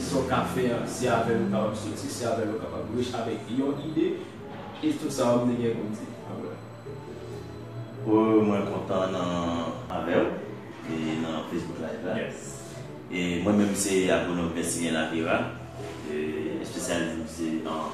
Sa w ka fè a, se avè l ou kapab soti, se avè l ou kapab rich avèk yon ide, e tout sa ou te gen pou di. Amen. Ohh mwen kontan nan avèw e nan Facebook live la e mwen menm se Agronom Persilien Lapera espesyalis m se an.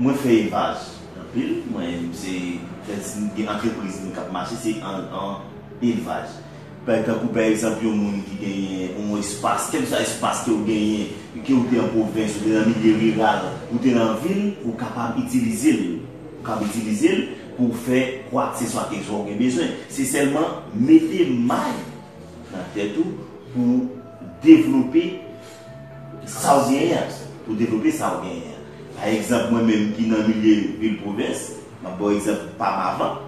Mwen fè evaj anpil mwen se fè ti gen antrepriz mwen kap mache se an elvaj pè tankou pè egzanp yon moun ki genyen yon espas kèl swa espas kew genyen kew te an pwovens ou te nan milye riral ou te nan vil ou kapab itilizel ou kab itilizel pouw fè kwak se swa keswa ou gen bezwen se sèlman mete may nan tèt ou pouw devlope Sa w genyen an, pou w devlope sa w genyen an. Pa egzanp mwen menm ki nan milye vil pwovens, m ap ba w egzanp pa m avan,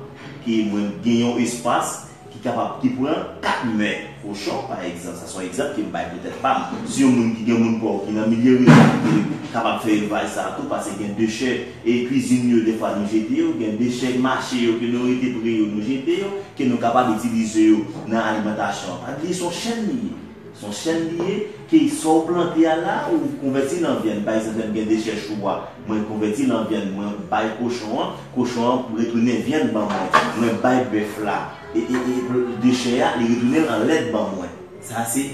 ke mwen gen yon espas ki kapab, ki pran 4 mè kochon pa egzanp, sa se yon egzanp ke m bay pou tèt pa m. Si yon moun ki gen moun pa w ki nan milye riral ki te kapab fè elvaj sa a tou, pase gen dechè e kwizin yo defwa nou jete yo, gen dechè mache yo ke nou rete pre yo nou jete yo, ke nou kapab itilize yo nan alimantasyon an. Pa bliye se yon chèn li ye. Son chèn li ye, key sow plante a la ou konvèti lan vyann pa egzanp lèm gen dechè chou a mwen konvèti lan vyann mwen bay kochon an kochon an retounen vyann ban mwen mwen bay bèf la dechè a li retounen l an lèt ban mwen sa se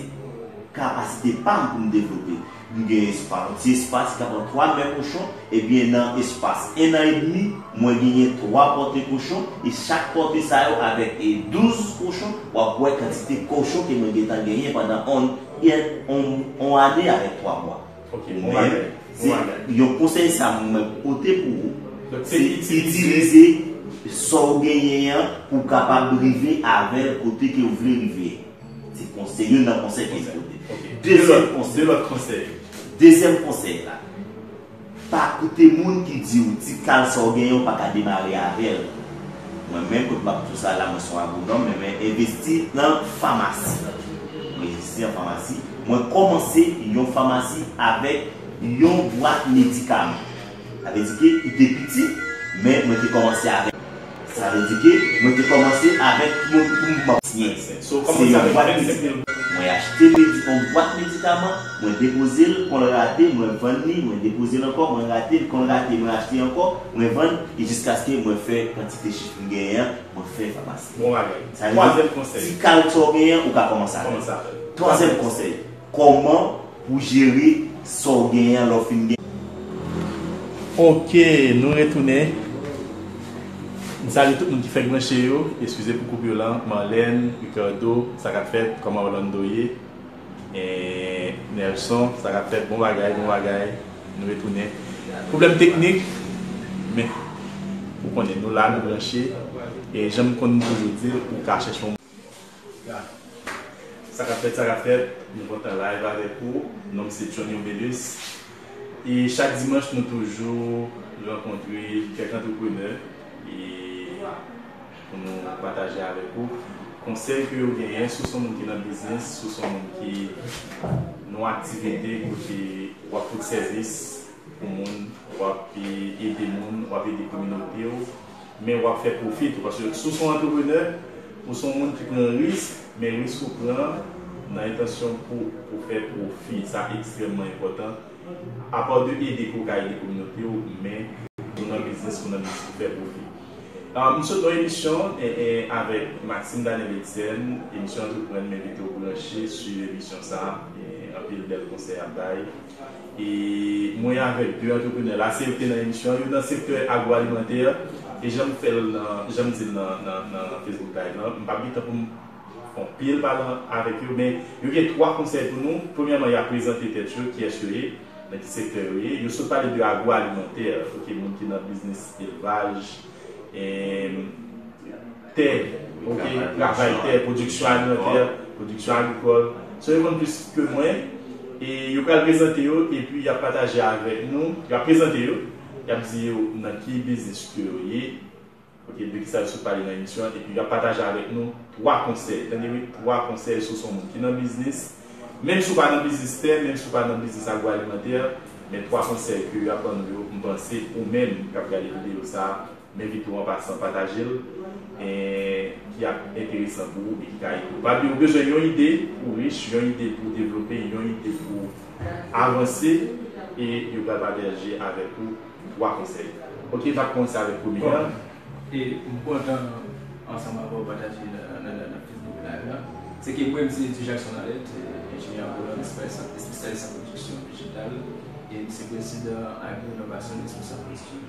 kapasite pam poum devlope. M gen espas, yon ti espas ki ka pran 3 mè kochon, ebyen nan espas 1 nan edmi, mwen genyen 3 pòte kochon, e chak pòte sa yo avèk 12 kochon, w ap wè kantite kochon ke mwen gentan genyen pandan on ane avèk 3 mwa. Ou menm, se yon konsèy sa m mwen pote pou ou, se itilize sa w genyen an pou w kapab rive avè l kote ke ou vle rive. Se konsèy, youn nan konsèy ke Jezi te bay. Dezyèm konsèy. De lòt konsèy. Dezyèm konsèy la, Pa koute moun ki di ou ti kal sa ou genyen ou pa ka demare avè l. Mwen menm, kote m ap di w sa la, mwen se yon agwonòm, men mwen envesti nan famasi. Mwen envesti nan famasi. Mwen kòmanse yon famasi avèk yon bwat medikaman. Sa vle di ke li te piti, men mwen te kòmanse avèk. Sa vle di ke mwen te kòmanse avèk moun pou m ban. Syens. Se yon bwat medikaman. Mwen achte yon bwat medikaman, mwen depoze l, kon l rate, mwen vann li, mwen depoze l ankò, mwen rate l, kon l rate, mwen achte ankò, mwen vann, e jiskaske mwen fè kantite chif m genyen an, mwen fè famasi. Bon bagay. Sa vle di, ti kal sa w genyen an, ou ka kòmanse avè l. Twazèm konsèy. Koman pou jere sa w genyen an lè w fin gen. Ok nou retounen m salye tout moun ki fèk branche yo eskize pou koupure lan Marlène, Ricardo sa kap fèt kòman Orlando ye eehh Nelson sa kap fèt bon bagay bon bagay nou retounen problèm teknik men ou konnen nou la nou branche e janm konn toujou di l ou ka chèche yon Sa kap fèt sa kap fèt nou kontan live avèk ou nonm se Johny Obelus e chak dimanch nou toujou rankontre kèk antreprenè e pou nou pataje avèk ou konsèy ke yo genyen si w son moun ki nan biznis si w son moun ki nan yon aktivite kote wap fout sèvis pou moun wap ede moun wap ede kominote w men wap fè pwofi tou paske si w son antreprenè ou son moun ki pran risk men risk ou pran an nan entansyon pou ou fè pwofi sa ekstrèmman enpòtan apa de ede ke w ka ede kominote w men ou nan biznis ou nan biznis pou fè pwofi m sot nan emisyon avèk Maxime Daniel Etienne emisyon antreprann m envite w branche swiv emisyon sa anpil bèl konsèy ap bay. E mwen avèk 2 antreprenè la, se yo ki te nan emisyon an, yo nan sektè agwoalimantè e jan m fè l nan, jan m di l nan Facebook Live lan, m p ap gen tan pou m fè anpil pale avèk yo men yo gen 3 konsèy pou nou. Premyèman y ap prezante tèt yo, kiyès yo ye, nan ki sektè yo ye. Yo sot pale de agwoalimantè, ok, moun ki nan biznis elvaj. tè, ok, travay tè, pwodiksyon alimantè, pwodiksyon agrikòl. So yo konn plis ke mwen e yo pral prezante yo epi y ap pataje avèk nou, y ap prezante yo, y ap di yo nan ki biznis ke yo ye, ok, de kisa yo sot pale nan emisyon an epi y ap pataje avèk nou 3 konsèy, tande wi, 3 konsèy si w se yon moun ki nan biznis, menm si w pa nan biznis tè, menm si w pa nan biznis agwoalimantè, men 3 konsèy ke y ap ban nou yo, m panse ou menm k ap gade videyo sa a, Mete tou an pasan pataje l ki ap enteresan pou ou e ki ka ede ou. Pabliye ou bezwen yon ide pou rich, yon ide pou devlope, yon ide pou avanse e yo pral pataje avèk ou 3 konsèy. Ok nap kòmanse avèk premye an. E m kontan ansanm avèw pataje nan Facebook live la. Se ke mwen m se Eddy Jackson Arlette, enjenyè an Volant Express ak espesyalis an pwodiksyon dijital e m se prezidan Agro Innovasyon Responsab Pwodiksyon Dijital.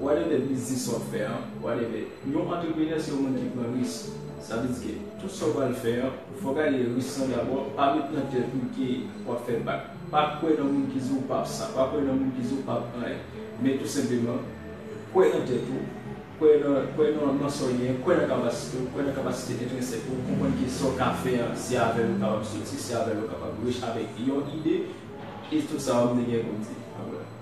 Whatever biznis wap fè an, whatever, yon antreprenè se yon moun ki pran ris. Sa vle di ke tout sa ou pral fè an, ou fò gade ris lan dabò, pa met nan tèt ou ke wap fè bak. Pa kwè nan moun ki di ou pap sa, pa kwè nan moun ki di ou pap anyen. Men tou senpleman, kwè nan tèt ou, kwè nan kwè nan nan sa ou genyen, kwè nan kapasite ou, kwè nan kapasite entrensèk ou, konprann ke sa ou ka fè an, se avèl ou kapab soti, se avèl ou kapab rich avèk yon ide, e tout sa wap mne gen pou m di.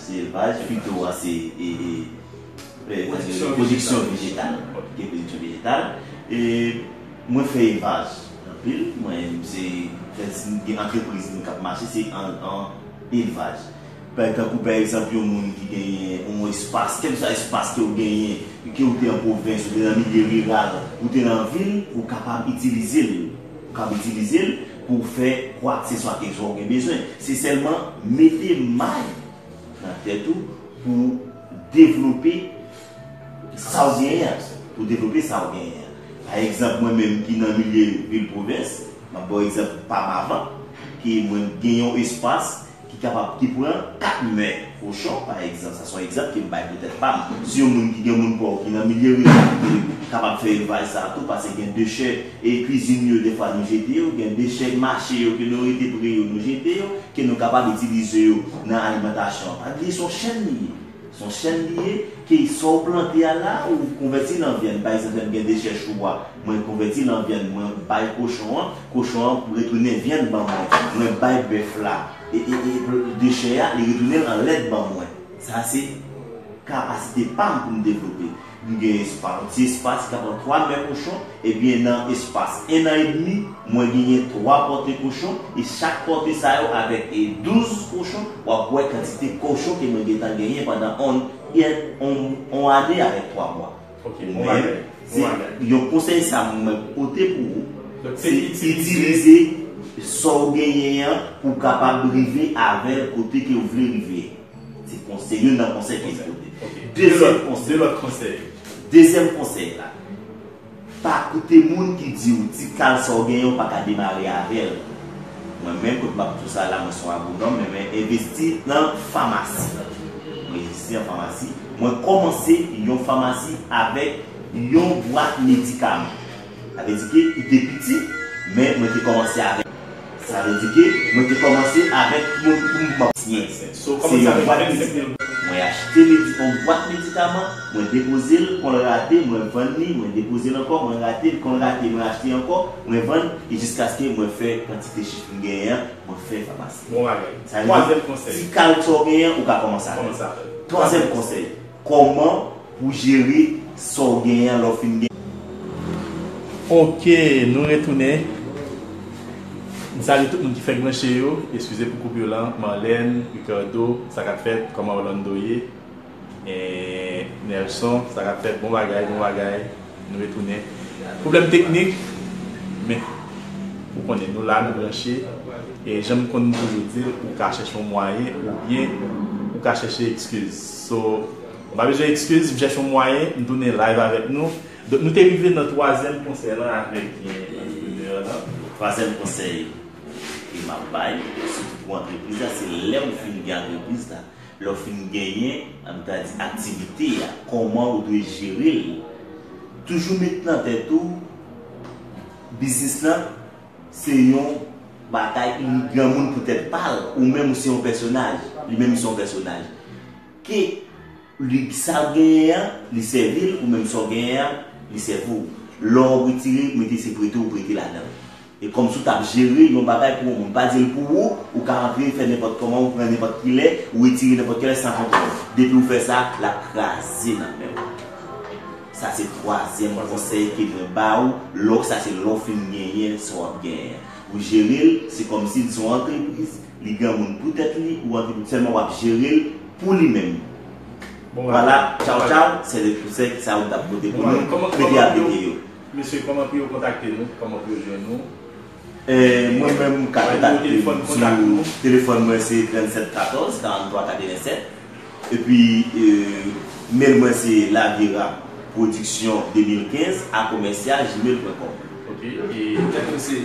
Se elvaj, pito a se pwodiksyon vejetal, ki pwodiksyon vejetal, e mwen fè elvaj anpil, mwen se gen antrepriz mwen kap mache se an elvaj. Pè tankou pè egzanp yon moun ki genyen yon espas, kèk sa espas ke ou genyen, ke ou te an pwovens, ou te nan milye riral, ou te nan vil, ou kapab itilize l, ou kab itilize l. Pou w fè kwakseswa kèk swa ou gen bezwen, se sèlman mete may nan tèt ou pou w devlope sa w genyen an, pou w devlope sa w genyen an. Pa egzanp, mwen menm ki nan milye vil pwovens, m ap ba w egzanp pa m avan, ke mwen gen yon espas ki kapab te pran 4 mè kochon pa egzanp, sa son egzanp ke m bay pou tèt pa m, si yon moun ki gen moun pòv ki nan milye riral ki te kapab fè elvaj sa tou pase gen dechè e kwizin yo dèfwa nou jete yo, gen dechè mache yo ke nou rete pre yo nou jete yo, ke nou kapab itilize yo nan alimantasyon an. Pa bliye son chèn li ye. Son chèn li ye, key sow plante a la ou konvèti lan vyann pa egzanp lèm gen dechè chou a mwen konvèti lan vyann mwen bay kochon an kochon an retounen vyann ban mwen mwen bay bèf la dechè a li retounen l an lèt ban mwen sa se kapasite pam poum devlope. M gen espas, yon ti espas ka pran 3 mè kochon, ebyen nan espas 1 an edmi, mwen genyen 3 pòte kochon, e chak pòte sa yo avèk 12 kochon, w ap wè kantite kochon ke mwen gentan genyen pandan on ane avèk 3 mwa. Men, se yon konsèy sa m mwen pote pou ou, se itilize sa w genyen an pou w kapab rive avè l kote ke w vle rive. Se konsèy, youn nan konsèy ke li pote. Dezyèm konsèy. De lòt konsèy. Dezyèm konsèy la, pa koute moun ki di ou ti kal sa ou genyen ou pa ka demare avè l. Mwen menm, kote m ap di w sa la, mwen se yon agwonòm men mwen envesti nan famasi. Mwen envesti nan famasi. Mwen kòmanse yon famasi avèk yon bwat medikaman. Sa vle di ke li te piti men mwen te kòmanse avèk. Sa vle di ke mwen te kòmanse avèk yon poum pap siyen ansent. Se yon bwat medikaman. Mwen achte yon bwat medikaman, mwen depoze l, kon l rate, mwen vann li, mwen depoze l ankò, mwen rate l, kon l rate, mwen achte ankò, mwen vann, e jiskaske mwen fè kantite chif m genyen an, mwen fè famasi. Bon bagay. Sa vle di, ti kal sa w genyen an, ou ka kòmanse avè l. Twazèm konsèy. Kòman Pou jere sa w genyen an lè w fin gen. Ok nou retounen m salye tout moun ki fèk branche yo eskize pou koup yo lan Marlène, Ricardo sa kap fèt kòman Orlando ye eeh Nelson sa kap fèt bon bagay bon bagay nou retounen pwoblèm teknik men ou konnen nou la nou branche e janm konn toujou dil ou ka chèche yon mwayen oubyen ou ka chèche ekskiz so. Bon pa bezwen ekskiz m chèche yon mwayen m tounen live avèk nou Donk nou te rive nan twazyèm konsèy lan avèk antreprenè lan. Twazyèm konsèy ke map bay sitou pou antrepriz la se lè ou fin gen antrepriz la, lè ou fin genyen an nou ta di aktivite a kòman ou dwe jere l Toujou met nan tèt ou biznis lan se yon batay granmoun pou tèt pa l ou menm ou se yon pèsonaj li menm li se yon pèsonaj Ke li k sa w genyen an, li sèvi l, ou menm sa w genyen an, li sèvi w. Lò w retire, mete se prete w prete ladan. E kòmsi w t ap jere yon bagay pou yon moun. M pa di l pou ou, ou ka antre fè nenpòt kòman, ou pran nenpòt ki lè, ou retire nenpòt ki lè san kontwòl. Depi w fè sa, l ap kraze nan men w. Sa se twazyèm konsèy ke mwen ba w, lò sa se lè w fin genyen sa w ap genyen an. Ou jere l, se kòmsi l se yon antrepriz, Li granmoun pou tèt li ou antre tout sèlman wap jerel pou li menm vwala tchaw tchaw sè de fou sè kisa ou tap pote pou nou mete a pete yo. Mesye kòman pou yo kontakte nou kòman pou yo jwenn nou. Mwen menm ou ka kontakte m sou telefòn mwen se 37 14 43 87 epi mail mwen se lavira production 2015 a commercial gmail pwen kòm. Ok e mèt ou se.